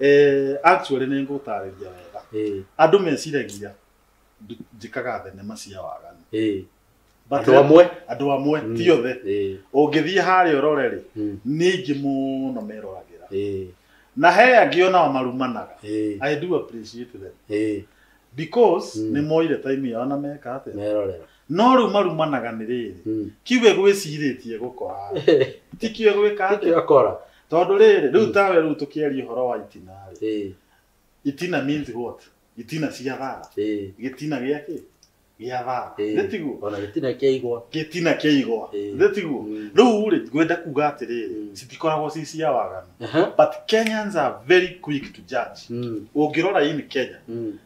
Eh, actually nĩ ngũtarĩria wega Eh, andũ meciragia ndu- njĩkaga thenema cia waganu eh. But andå amwe andũ amwe Mm. ti othe Eh, ũngĩthiĩ harĩa ũrore rĩ mm, nĩ aingĩ mũno meroragĩra eh, na he angĩ onao marumanaga eh, i do appreciate them eh, because Mm. nĩ moire time yao na meka atĩa merorera no rĩu marumanaga nĩ rĩrĩ Mm. kiuge gwĩcirĩtie gũkora ti kiuge gwĩka atĩa Kĩakora. tondũ rĩrĩ rĩu tawe rĩu tũkĩaria ũhoro wa itina rĩ Ĩĩ, itina means what itina cia thara ĩĩ, gĩtina gĩa kĩ gĩa thara ĩĩ. gĩtiguo Ona gĩtina kĩa igwa. gĩtina kĩa igwa Ĩĩ. gĩtiguo Mm. rĩu rĩ ngwenda kuga atĩrĩrĩ Mm. citikoragwo ci cia waganu Aha. but kenyans are very quick to judge Mm, ũngĩrora in kenya mm,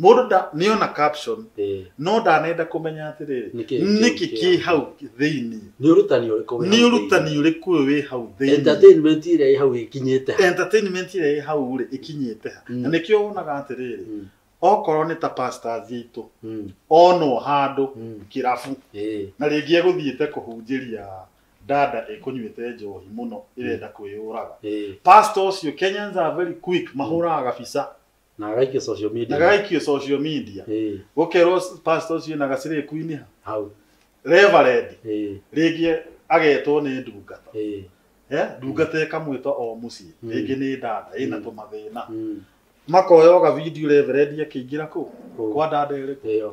mũndũ nda- nĩona caption Eh, no ndanenda kũmenya atĩrĩrĩ Nĩkĩ kĩu nĩkĩ kĩ kĩ hau thĩinĩ nĩ ũrutani ũrĩkũ wĩ nĩ hau ũrutani thĩinĩ? ũrĩkũ ũyũ wĩ hau thĩinĩ entertainment ĩrĩa ĩ hau ĩkinyĩte ha? entertainment ĩrĩa ĩ hau rĩ ĩkinyĩte ha Mm. na nĩkĩo wonaga atĩrĩrĩ Mm, okorwo nĩ ta pastors aitũ mm, onwo handũ mm. kĩrabu Eh, na rĩngĩ egũthiĩte kũhunjĩria dada ĩkũnyuĩte njohi mũno ĩrenda kwĩyũraga eh, pastor ũcio kenyans are very quick mahũraga gabica na agaikio social media na gagaikio social media eh gukerwo pastor ucio na gacire kuiniha hau reverend eh rĩngĩ agetwo nĩ ndungata eh Eh, ndungata ĩkamwĩta o mũciĩ Mm. rĩngĩ nĩ dada ĩna Mm. tũmathĩna mm makoya ũga video reverend akĩingĩra kũu Kũu. kwa dada ĩrĩkũ ĩyo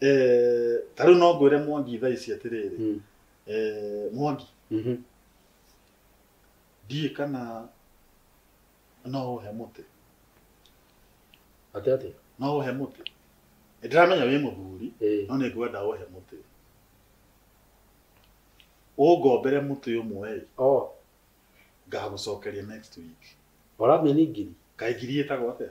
eh, ta rĩu no ngwĩre mwangi thaa ici atĩrĩrĩ Mm. eh, mwangi Mhm. ndiĩ kana no ũhe mũtĩ Atĩ atĩ. no ũhe mũtĩ Nĩ ndĩramenya wĩ mũthuri Eh. no nĩ ngwenda ũhe mũtĩ ũngombere mũtĩ ũmwe ĩ, Oh, ngagũcokeria next week ũramenya ngiri. kaingiri ĩtagwo atĩa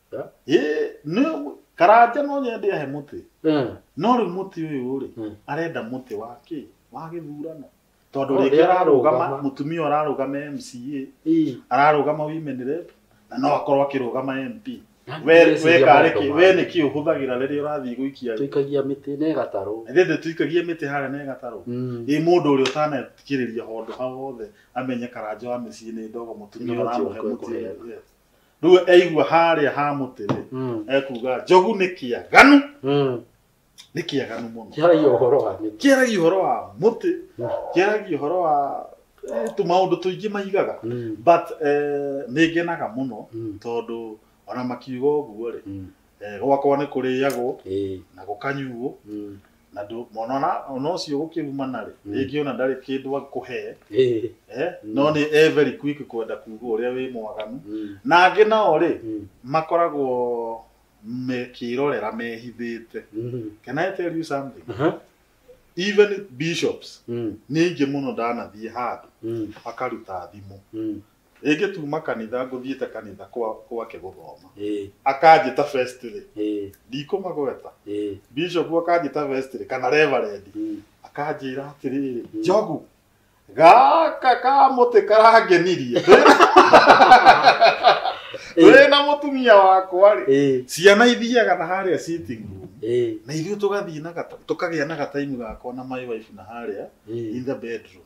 Eh? Ĩĩ, nĩ- karanja no nyende ahe mũtĩ Eh. no rĩu mũtĩ ũyũ rĩ Mm. arenda mũtĩ wa kĩ wa gĩthurano tondũ Oh, rĩngĩ rĩa ararũgama arũgama. mũtumia ararũgama mca Ii. ararũgama women rep na no akorwo akĩrũgama mp Nani we ndĩreciria we karĩ maũndũ kĩ ma- we nĩkĩ ũhũthagĩra rĩrĩa ũrathiĩ gũikia tũikagia mĩtĩ na ĩgatarwo ithe thĩ tũikagie mĩtĩ harĩa na ĩgatarwo Mm. ĩ mũndũ ũrĩa ũtanakirĩria handũ hau hothe amenye karanja wa mĩciĩ nĩ ndogo mũtumia Nĩ ũthiũ aramuhe ũkwe mũtĩ kũheana. Yes. rĩu aigua harĩa ha mũtĩ rĩ Mm. ekuga njogu nĩ kĩaganu Mm. nĩ kĩaganu mũno Kĩaragia ũhoro wa nĩ. kĩaragia ũhoro wa mũtĩ Mm. kĩaragia ũhoro wa eh, tũmaũndũ tũingĩ maigaga Mm. but eh, nĩ ngenaga mũno Mm. tondũ ona makiuga ũguo rĩ Mm. eh, gwakwa nĩ kũrĩagwo Ĩĩ. na gũkanyuo Mm. na ndũ- mwana ona ona ũcio gũkĩumana rĩ Mm. rĩngĩ ona ndarĩ kĩndũ akũhee Eh, eh, Mm. no nĩ e very quick kwenda kuga ũrĩa wĩ mwaganu mm, na angĩ nao rĩ mm, makoragwo mekĩrorera mehithĩte mm. can i tell you something Aha, even bishops mm, nĩ aingĩ mũno ndanathiĩ handũ mm, akaruta thimũ mm, Rĩngĩ tuma kanitha ngũthiĩte kanitha kwa gwake gũthoma. Ĩĩ. Akanjĩta first rĩ, Ĩĩ. ndikũmagweta. Ĩĩ. Bishop akanjĩta first rĩ, kana reverend. Mm. Akanjĩra atĩrĩrĩ, Njogu, gaka kamũtĩ karangenirie. Wĩ na mũtumia wakwa rĩ, Ĩĩ. ciana ithiaga na harĩa sitting room. Ĩĩ. Na ithuĩ tũgathiĩ na gata, tũkagĩa na gataimu gakwa na my wife na harĩa in Ĩĩ. the bedroom.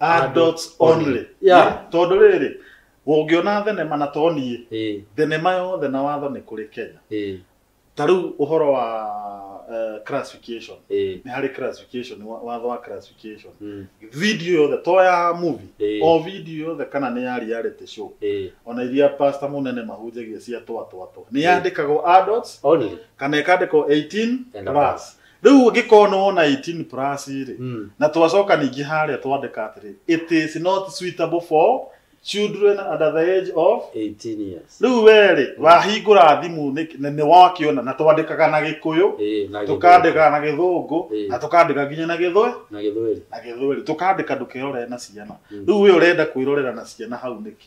adults only Yeah. Nĩ tondũ rĩrĩ ũngĩona thenema na toniĩ Eh, thenema yothe na watho nĩ kũrĩ kenya eh, ta rĩu ũhoro wa eh, classification eh, nĩ harĩ classification wa- watho wa classification mm, video yothe to ya movie Eh. o video yothe kana nĩ ya reality show eh, ona iria pastor munene mahunjagia cia twatwatwa nĩ yandĩkagwo adults only. kana ĩkandĩkwo 18 And plus rĩu ũngĩkorwo nĩ wona 18 plus rĩ Mm. na twacoka ningĩ harĩa twandĩka atĩrĩ it is not suitable for children under the age of 18 years. rĩu werĩ wahingũra thimũ nĩ- nĩ nĩ wakĩona na twandĩkaga na gĩkũyũ Eh, na tũkandĩka na gĩthũngũ Ĩĩ. na tũkandĩka nginya na gĩthwe na gĩthweri. na gĩthweri tũkandĩka ndũkerorere na ciana Mm. rĩu we ũrenda kwĩrorera na ciana hau nĩkĩ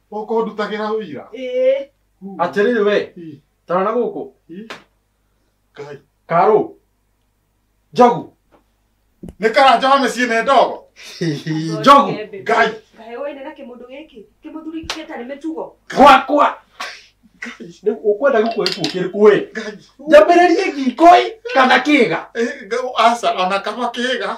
ũkũndutagĩra ũira ĩĩ Huu. atĩrĩrĩ we Ii, tara na gũkũ ii. Ngai. karũ njogu nĩ karanja wa mĩciĩ nĩ ndogo njogu Ngai. kahe woine na kĩmũndũ gĩkĩ kĩmũthuri gĩkĩ tarĩ mĩtugo gwakwa rĩu ũkwenda gĩkuo gĩkuo kĩrĩkũ ĩ Ngai. njambĩrĩrie gikoi kana kĩga Eh, nga- aca ona kaba kĩga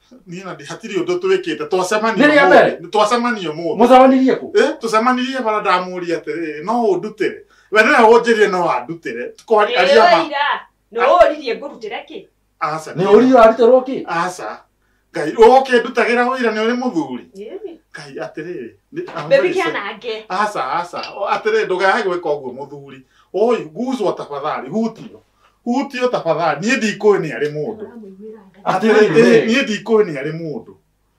niä na hatirä å ndå twä kä te Nĩ rĩa mbere? twacemania må mũcemanirie kũ Eh, tucemanirie bara ndamuria atiriri no undutire we niwe unjirie no andutire tukoaria ma ira nä å ririe ngå rutä re kä aca nĩ ũrio arutĩrwo kĩ aca ngai ukindutagira wira ni uri muthuri ngai atiriri bebi kä anange aca aca atiriri ndugae gwika uguo muthuri oi guzwa tafadhali hutio hutio tafadhali niĩ ndikũĩ nĩ arĩ mũndũ atĩrĩ ĩ, niĩ ndikũĩ nĩ arĩ mũndũ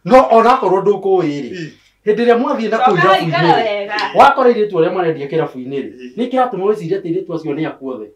no onakorwo ndũkũĩ-rĩ Ĩ, hĩndĩ ĩrĩa mwathiĩ na kũu Coka irabu-inĩ ũikare wega. wakora airĩtu arĩa marendia kĩrabu-inĩ rĩ Ĩ. nĩ kĩratũma wĩcirie atĩ airĩtu acio nĩ akuothe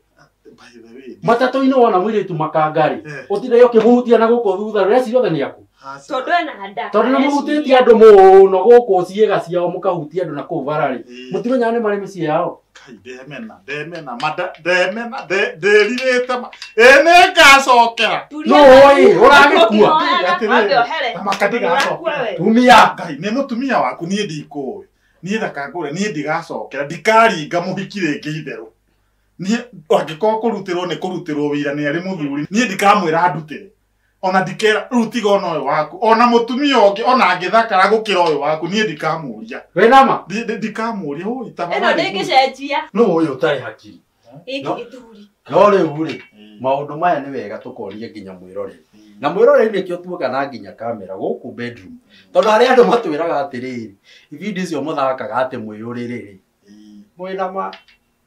by the way, matatũ-inĩ wona mũirĩtu makanga rĩ Eh. ũtinde ũkĩmũhutia na gũkũ thutha rĩ ũreciria othe nĩ aku tondå ena nda tondå nä må hutä tie andå må no gå kå ciäga ciao må kahutia andå na kå u bara rä Ĩĩ. må timenyaga nä marä mä ciä yao Kai, ndemena ndemena mada ndemena nde- ndĩrirĩte ma- ĩ nĩ ngacokera No, ĩĩ, ũragĩkua. Atĩrĩrĩ, Thamaka ndigacokera. tumia ngai nĩ mũtumia waku niĩ ndikũĩ niĩ ndakangũre niĩ ndigacokera ndikaringa mũhiki rĩngĩ itherũ niĩ angĩkorwo kũrutĩrwo nĩ kũrutĩrwo wĩira nĩ arĩ mũthuri niĩ ndikamwĩra ndutĩre ona ndikera rĩu tiga ona ũyũ waku ona mũtumia ũngĩ ona angĩthakara gũkĩra ũyũ waku niĩ ndikamũria we nama Ndi- ndi- ndikamũria ũyũ ĩno tafadhali nĩ ngĩcenjia nũ ũyũ ũtarĩ hakiri gĩkĩ No. gĩthuri no rĩu rĩ Mm. maũndũ maya nĩ wega tũkorie nginya mwĩroreri na mwĩroreri nĩkĩo tuoka na nginya kamera gũkũ bedroom tondũ harĩa andũ matwĩraga atĩrĩrĩ ibindi icio mũthakaga atĩ mwĩyũrĩrĩ rĩ mwĩnama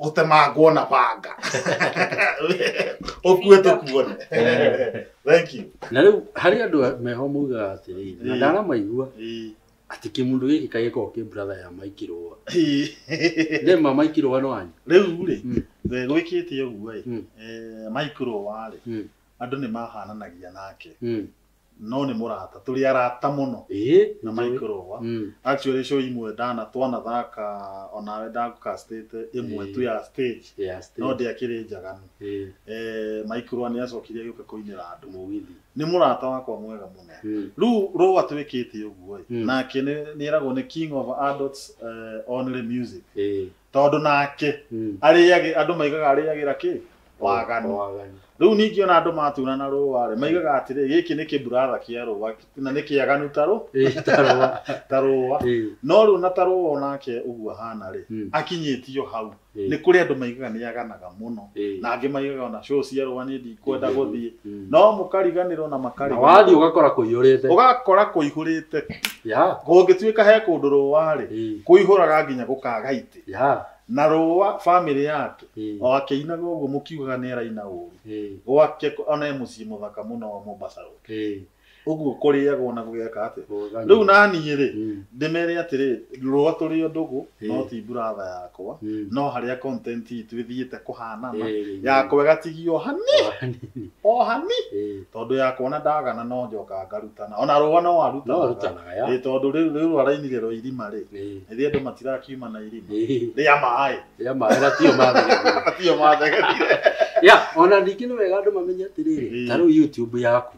gũtemangwo na banga ũkue tũkuone thank you na rĩu harĩ andũ a- meho maugaga atĩrĩrĩ na Ĩĩ. ndaramaigua Ĩĩ. atĩ kĩmũndũ gĩkĩ kaĩ gĩkoragwo kĩ brother ya maikirũa Ĩĩ. rĩma maikirũa no anyu rĩu rĩ Mm. we gwĩkĩte ũguo ĩ Mm. eh, maikũrwo warĩ Mm. andũ nĩ mahananagia nake Mm, No nĩ mũrata. Tũrĩ arata mũno Ĩĩ. na Michael Owa. Mm. Actually show imwe ndana twanathaka onawe ndagũcastĩte ĩmwe tu ya stage Yeah, still. no ndĩakĩrĩ njaganu. Ĩĩ. Eh, Michael Owa nĩacokire agĩũka kũinĩra andũ. Mũgithi. Nĩ mũrata wakwa mwega mũno. Mm. Rĩu Rũa twĩkĩte ũguo-ĩ, Mm. nake nĩ- nĩeragwo nĩ King of Adults eh, Only Music. Ĩĩ. tondũ nake Mm. arĩage andũ maigaga arĩagĩra kĩ waganu Waganu. rĩu ningĩ ona andũ maturana rũa rĩ maigaga atĩrĩ gĩkĩ nĩ kĩburatha kĩa rũa na nĩ kĩaganu ta rũ- Eh, tarwa. ta rũa Eh, no rĩu na ta rũa onake ũguo ahana rĩ mm, akinyĩtio hau eh. nĩ kũrĩ andũ maigaga nĩ aganaga mũno Ĩĩ. na angĩ maigaga ona show cia rũa niĩ ndikwenda Ingĩthiĩ. gũthiĩ Mm. no mũkariganĩrwo na na wathiĩ makariganĩrwo ũgakora kũiyũrĩte ũgakora kũihũrĩte ya kũngĩtuĩka he kũndũ rũa-rĩ ĩĩ, kũihũraga nginya gũkaga itĩ ya na rũa bamĩrĩ yake ĩĩ, o akĩinaga ũguo mũkiugaga nĩ araina ũru ĩĩ, gwake ko- ona e mũciĩ mũthaka mũno wa Mombasa Road ĩĩ. ũguo kũrĩagwo na gũgeka atĩ rĩu naniĩ rĩ Mm, ndĩmere atĩrĩ rũa tũrĩ o ndũgũ no Eh. ti buratha yakwa mm. no harĩa content itũ ĩthiĩte kũhanana Eh, yakwa ĩgatigio o hani hanini, o hani eh. tondũ yakwa na ndagana no njoka ngarutana ona rũa no no arutanaga arutanaga ya Ĩ, tondũ rĩu rĩu rwarainire rwa irima rĩ Eh, nĩ andũ matirakiuma na irima eh, rĩa maĩ ya mahera tio mathega atio mathegerire ya ona ningĩ nĩ wega andũ mamenye atĩrĩrĩ Eh. ta rĩu youtube yaku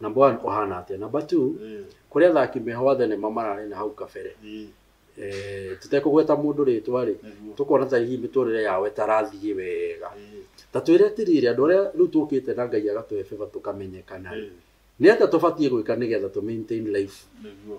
Number one kũhana atĩa? Number two, Eh, kũrĩ athaki meho a thenema mararĩ na hau kabere eh, Eh, tũtekũgweta mũndũ rĩtwa rĩ nĩguo. tũkona ta hihi mĩtũrĩre yao ĩtarathiĩ wega Eh, ta twĩre tiriri andũ arĩa rĩu tũkĩte na ngai agatũhe beba tũkamenyekana eh, nĩ atĩa tũbatiĩ gwĩka nĩgetha tũ maintain life nĩguo.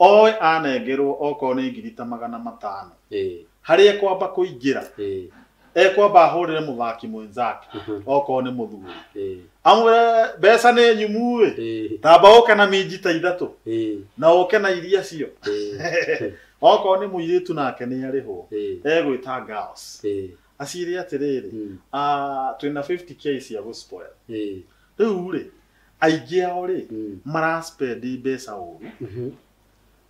Oe anengerwo okorwo nĩ ngiri ta magana matano, harĩa ekwamba kũingĩra, ekwamba ahũrĩre mũthaki mwenzake okorwo nĩ mũthuri, amwĩre mbeca nĩ nyumu-ĩ, tamba ũke na minji ta ithatũ na ũke na iria cio. Okorwo nĩ mũirĩtu nake nĩarĩhwo, egwĩta girls aciĩre atĩrĩrĩ, twĩna 50K cia gũ spoil, rĩu-rĩ, aingĩ ao rĩ Mm. maraspendi mbeca ũru Mhm.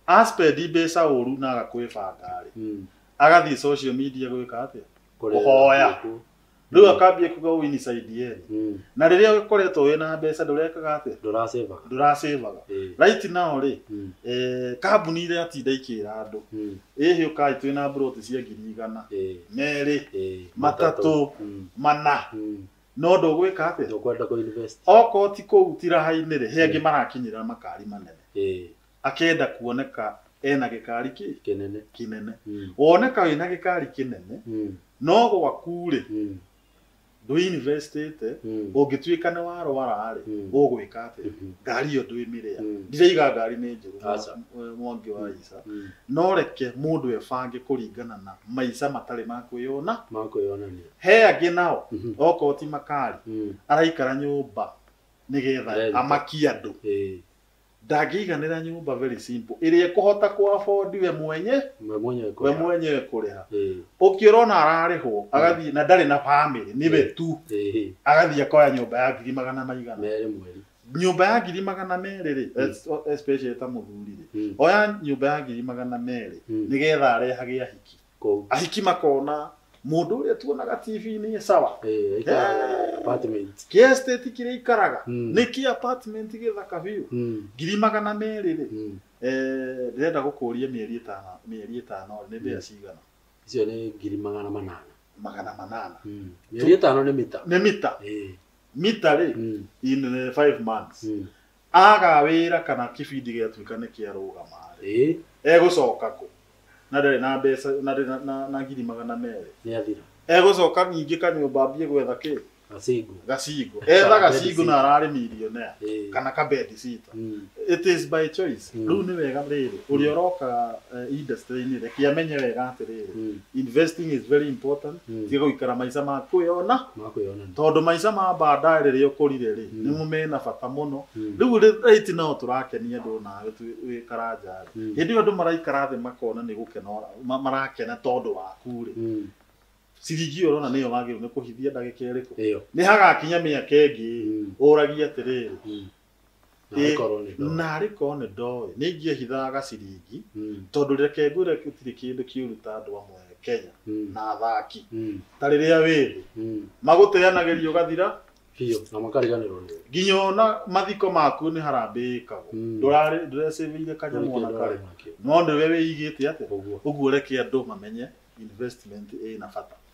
aspendi mbeca ũru na agakwĩbanga rĩ Mm. agathiĩ social media gwĩka atĩa Kũrĩa Kũhoya. gũkũ. rĩu akambia kuga ũũ inside yenu Mm. na rĩrĩa ũkoretwo wĩ na mbeca ndũrekaga atĩa Ndũrasĩba. ndũrasĩvaga Eh. right now rĩ Mm. eh, kambuni iria atinda ikĩra andũ Mm. ĩhĩ ũkai twĩ na mburoti cia ngiri igana Eh. merĩ Eh. Matatũ. Mm. mana Mm. no ndũgwĩka atĩa Ndũkwenda kũ invest. okorwo ti kũu ti raha-inĩ rĩ he angĩ marakinyĩra makari manene Ĩĩ, akenda kuoneka ena gĩkari kĩ kĩnene. kĩnene Mm, woneka wĩna gĩkari kĩnene mm, no gwaku rĩ mm, ndwĩinvestĩte mm, ũngĩtuĩka nĩ warwara rĩ Mm. ũgwĩka atĩa mhm, ngari ĩyo ndwĩmĩrĩa mm, ndiraiga ngari nĩ njũru Aca. mwa- mwangi wa ica mm. no reke mũndũ ebange kũringana na maica matarĩ ma kwĩyona Ma kwĩyonania. he angĩ nao Mhm. okorwo ti makari Mm. araikara nyũmba nĩgetha Rent. amakie andũ Eh, ndangĩiganĩra nyũmba very simple ĩrĩa ĩkũhota kũabondi we mwenye we mwenyewe we kwa. mwenyewe kũrĩha Eh, ũkĩrona ararĩhwo agathiĩ na ndarĩ na bamĩrĩ nĩwe tu eh, agathiĩ akoya nyũmba ya ngiri magana maigana mere mweri. nyũmba ya ngiri magana merĩ rĩ Mm. es- especially ta mũthuri rĩ Mm. oya nyũmba ya ngiri magana merĩ Mm. nĩgetha arehage ahiki Kũu. ahiki makona mũndũ ũrĩa tuonaga tv-inĩ sawa Eh, aikaraga Eh. apartment. kĩa estate kĩrĩa ikaraga Mm. nĩ kĩ apartment gĩthaka biũ Mm, ngiri magana merĩ rĩ mm. eh, ndĩrenda gũkũria mĩeri ĩtano mĩeri ĩtano nĩ mbĩa Mm. cigana Icio nĩ ngiri magana manana. magana manana Mm. Mĩeri ĩtano nĩ mita. nĩ mita Eh, mita rĩ mm, in eh, five months mm. Aaga wĩra kana kĩbindi gĩatuĩka nĩ kĩarũgama-rĩ, Ĩĩ, egũcoka kũ? Na ndarĩ na mbeca, na ndarĩ na- na- na ngiri magana merĩ. nĩ athira. Egũcoka ningĩ kanyũmba ambie gwetha kĩ? Gacingu. Gacingo. Etha Kana gacingo bedsitter. na ararĩ millionaire. Ĩĩ. Kana ka bedsitter. Mm. It is by choice. Mm. Rĩu nĩ wega rĩrĩ, ũrĩa ũroka eh, industry-inĩ reke amenye wega atĩrĩrĩ, Mm. investing is very important. Mm. Tiga gũikara maica ma kwĩyona. Makwĩyona. Tondũ maica ma baadaye rĩrĩa ũkũrire-rĩ, nĩmo mena bata mũno. Rĩu rĩ, right now tũrakenia andũ nawe twĩ wĩ karanja-rĩ, hĩndĩ ĩyo andũ maraikara thĩ makona nĩ gũkena ũra- ma- marakena tondũ waku-rĩ, ciringi ĩyo ũrona nĩyo wagĩrĩirwo nĩ kũhithia ndagĩka ĩrĩkũ? Ĩyo. Nĩhagakinya mĩaka ĩngĩ-ĩ, ũragie atĩrĩrĩ, Narĩ korwo nĩ ndoĩ. narĩ korwo nĩ ndoĩ nĩ ingĩehithaga gaciringi Mm, tondũ reke ngwĩre gũtirĩ kĩndũ kĩũru ta andũ amwe Kenya mm, na athaki mm, ta rĩrĩa wĩ thĩ mm. magũteanagĩria ũgathira biũ na makariganĩrwo nĩ nginya ona mathiko maku nĩ harambĩ ĩkagwo Mm. ndũrarĩ ndũrecĩvĩire kanyamũ ona karĩ nakĩo no nĩwe wĩigĩte atĩa ũguo ũguo reke andũ mamenye investment ĩna bata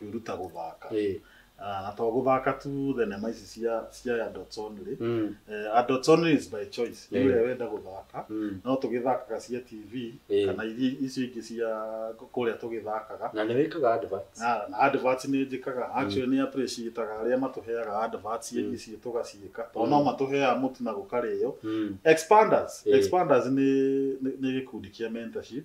kwĩruta gũthaka Ĩĩ. Ah, na to gũthaka tu thenema ici cia cia ya Dots Only Mm. Eh, Adults Only is by choice nĩ Ĩĩ. ũrĩa wenda gũthaka Mm. no tũgĩthakaga cia TV Ĩĩ. kana iria icio ingĩ cia kũrĩa tũgĩthakaga na nĩ wĩkaga adverts na na adverts nĩ njĩkaga actually nĩ appreciataga arĩa matũheaga adverts Mm. ici tũgaciĩka tondũ no Mm. matũheaga mũtu na gũkarĩo Mm. expanders Ĩĩ. expanders nĩ nĩ- nĩ gĩkundi kĩa mentorship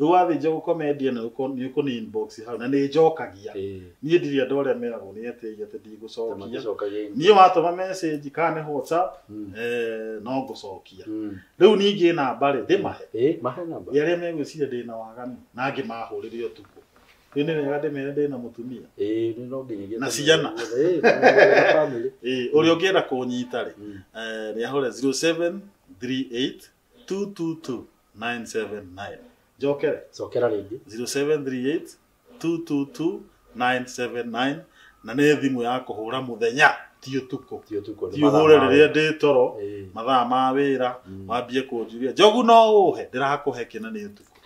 Rĩu wathiĩ njegũkomendia nĩ ũkũ- nĩ ũkũni inbox hau na nĩ njokagia Ĩĩ. niĩ ndirĩ andũ arĩa meragwo nĩ etĩi atĩ ndigũcokia Maticokagia inbox. niĩ watũma message kana nĩ whatsapp Mm. eh, no ngũcokia Mm. rĩu ningĩ namba rĩ ndĩmahe Ĩĩ, mahe namba. arĩa megwĩciria ndĩ na waganu na angĩ mahũrĩre ũtukũ rĩu nĩ wega ndĩmere ndĩ na mũtumia Ĩĩ, nĩ no nginyagia Na tene. ciana. Ĩĩ, na family. Ĩĩ, ũrĩa ũngĩenda kũnyita rĩ Mm. eh, nĩ ahũre 0738 222-979 njokere cokera rĩngĩ 0738-222-979 na nä thimå ya kå hå ra må thenya ti å tukå ti ũtukũ nĩ ti å mathaa hå re ma rä rä a wĩra. ndä toro Ĩĩ. mathaa ma wä ra Mm. wambie kå njuria njogu no å he ndä rakå he kä na nä å tukå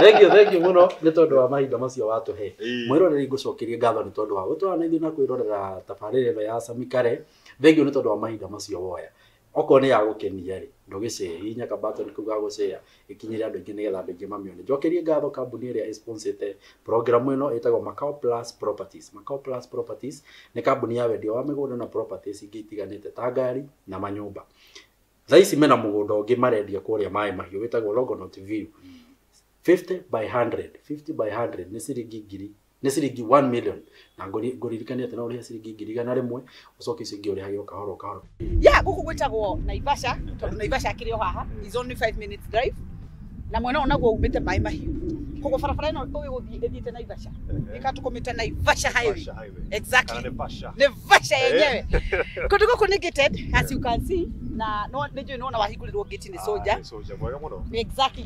thengio thengio mũno nĩ tondũ wa mahinda macio watũhe Ĩĩ. mwĩroreri ngũcokerie ngatho nĩ tondũ wa gũtwara na ithuĩ na kwĩrorera tabarĩra ĩno ya Sami Kare thengio nĩ tondũ wa mahinda macio woya okorwo nĩ ya gũkenia rĩ ndũgĩ share hihinya ka button kau ga gũ share ĩkinyĩre andũ aingĩ nĩgetha andũ aingĩ mamĩone njokerie ngatho kambuni ĩrĩa ĩ sponsor ĩte program ĩno ĩtagwo Makao Plus Properties Makao Plus Properties nĩ kambuni ya wendia wa mĩgũnda na properties ingĩ itiganĩte ta ngari na manyũmba thaa ici mena mũgũnda ũngĩ marendia kũrĩa maĩ mahiũ wĩtagwo Longonot View 50 by 100 50 by 100 nĩ ciringi ngiri nĩ ciringi 1 million na ngũri- ngũririkanie atĩ no ũrĩhe ciringi ngiri igana rĩmwe ũcoke icio ingĩ ũrĩhage o kahora o kahora ya gũkũ gwĩtagwo naivasha tondũ naivasha akĩrĩ o haha is only 5 minutes drive na mwena ũyũ naguo umĩte maĩ mahiũ koguo barabara ĩno ũgĩgũthiĩ ĩthiĩte naivasha ĩka tũkũmĩte naivasha highway exactly naivasha yenyewe kũndũ gũkũ nĩ gated as you can see na no- nĩ njũĩ nĩ wona wahingũrĩrwo ngĩti nĩ soja mwega mũno exactly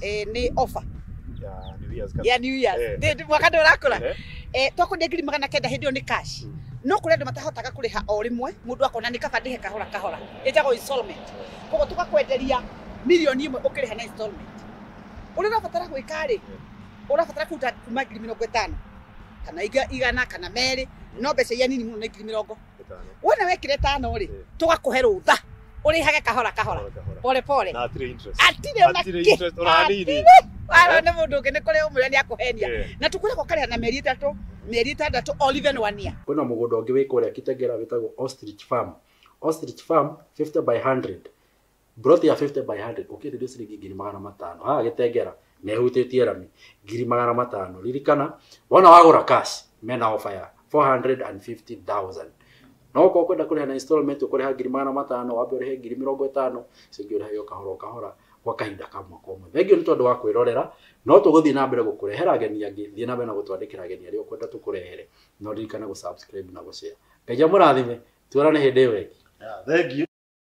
eh, nĩ offer Ya, New Year's Cup. ya new year Eh. Ndĩ- ndĩ- mwaka ndũrakũra Eh, eh, twakwendia ngiri magana kenda hĩndĩ ĩyo nĩ cash Mm. no kũrĩ andũ matahotaga kũrĩha o rĩmwe mũndũ akona nĩ kaba ndĩhe kahora kahora ĩtagwo installment koguo tũgakwenderia mirioni ĩmwe ũkĩrĩha na installment ũrĩa ũrabatara gwĩka rĩ ũrabatara kũruta kuma ngiri mĩrongo ĩtano kana iga- igana kana merĩ no mbeca iria nini mũno nĩ ngiri mĩrongo Ĩtano. wona wekire tano rĩ Eh. tũgakũhe rũtha ũrĩhage kahora kahora Kahora, kahora. pole pole Na hatirĩ interest. atirĩ ona Hatirĩ kĩ interest ona hanini. wara nĩ mũndũ ũngĩ nĩ kũrĩ ũmwĩra nĩ akũhenia Eh. na tũkwĩragwo karĩa na mĩeri ĩtatũ mĩeri ĩtandatũ or even one year kwĩna mũgũnda ũngĩ wĩ kũrĩa kitengera wĩtagwo ostrich farm ostrich farm 50 by 100 Mburoti ya 50 by 100 ũkĩenderio ciringi ngiri magana matano haha Gĩtengera na ĩhutĩtie rami ngiri magana matano. Ririkana wona wagũra cash mena offer ya 450,000. No okorwo ũkwenda kũrĩha na installment ũkũrĩha ngiri magana matano wambe ũrĩhe ngiri mĩrongo ĩtano icio ingĩ ũrĩhage o kahora o kahora gwa kahinda ka mwaka ũmwe. Thengiũ nĩ tondũ wa kwĩrorera no tũgũthiĩ na mbere gũkũrehera ageni angĩ. Thiĩ na mbere na gũtwandĩkĩra ageni arĩa ũkwenda tũkũrehere na ũririkane gũ subscribe na gũ share. Ngai amũrathime tuonane hĩndĩ ĩyo ĩngĩ. Thengiũ.